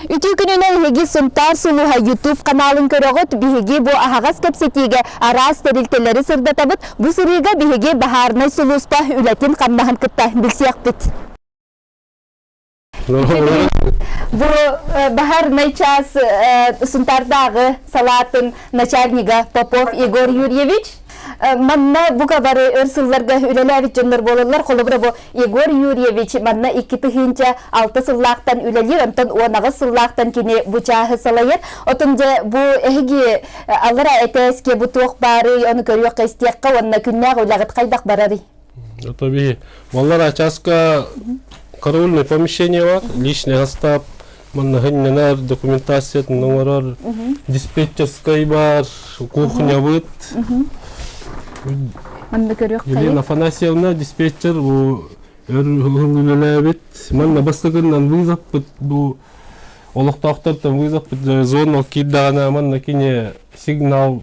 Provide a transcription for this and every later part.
Үтүү күнүнэн эһиги Сунтаар сулуһа YouTube каналын көрөҕүт. Биһиги бу аһаҕас кэпсэтиигэ араас тэрилтэлэри сырдатабыт. Бу сырыыга биһиги баһаарынай сулууспа үлэтин-хамнаһын кытта билсиэхпит. Бу баһарнай час Сунтардагы салатын начальнига Попов Егор Юрьевич. Манна бука бары өр сылларга үлэлээбит дьоннор болаллар холобура бу Егор Юрьевич манна икки тыһыынча алта сыллаахтан үлэлиир онтон уонаҕыс сыллаахтан кини бу чааһы салайар отон дьэ бу эһиги аллара этээске бу туох баары ону көрүөх истиэххэ уонна күннээх үлэҕит хайдах барарый Это биһи маллар очаска караульное помещение бар, личный остап, маннахыннанар документациятын оңорор, диспетчерскай бар, кухнябыт. Манна Елена Афанасьевна диспетчер бу үлелээбит. Манна бастакыннан вызаппыт бу олохтоохтортан вызаппыт зона кирдагана манна кине сигнал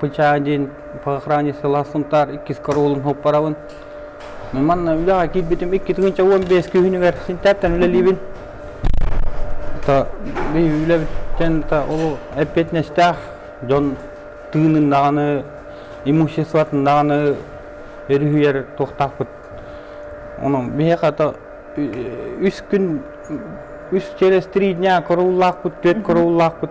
бычаа диэн охране сыла Сунтаар иккис коруолун хоппарабын. Манна үлэҕэ киирбитим икки тыгынча уон биэс күһүнүгэр Синтээптэн үлэлиибин. То үлэбиттэн то ол эппиэтинэстээх дьон тыынын даҕаны имуществотын даҕаны өрүһүйэр туохтаахпыт. Онон биһиэхэ то үс күн үс через три дня корууллаахпыт, түөрт корууллаахпыт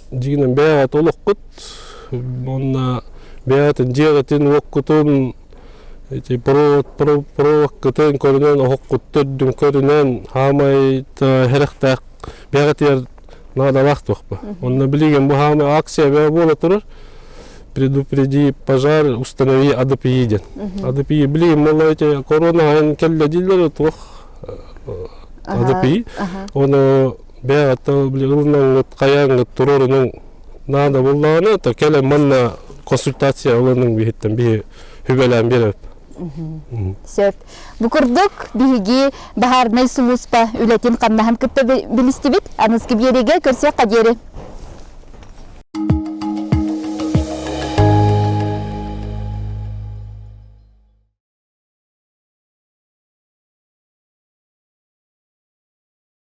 дигинен бэйэҕит олохкут уонна бэйэҕитин дьиэҕитин уоккутун ити провоккутун көрүнэн оһохкуттан дүм көрүнэн хаамай хэрэхтээх бэйэҕитигэр наадалаах туохпа онно билигин бу хаамай акция бэйэ буола турар предупреди пожар установи адпи ден адпи билигин моло эти корона хайын келле дийлер туох адпи оно бэйэҕиттэн билигиннэҥҥит хайааҥҥыт туруорунуҥ наада буоллаҕына то кэлэн манна консультация ылыныҥ биһиттэн биһи хүбэлээн биэрэбит сөп бу курдук биһиги баһаарынай сулууспа үлэтин хамнаһын кытта билистибит аныскы биэриигэ көрсүөххэ диэри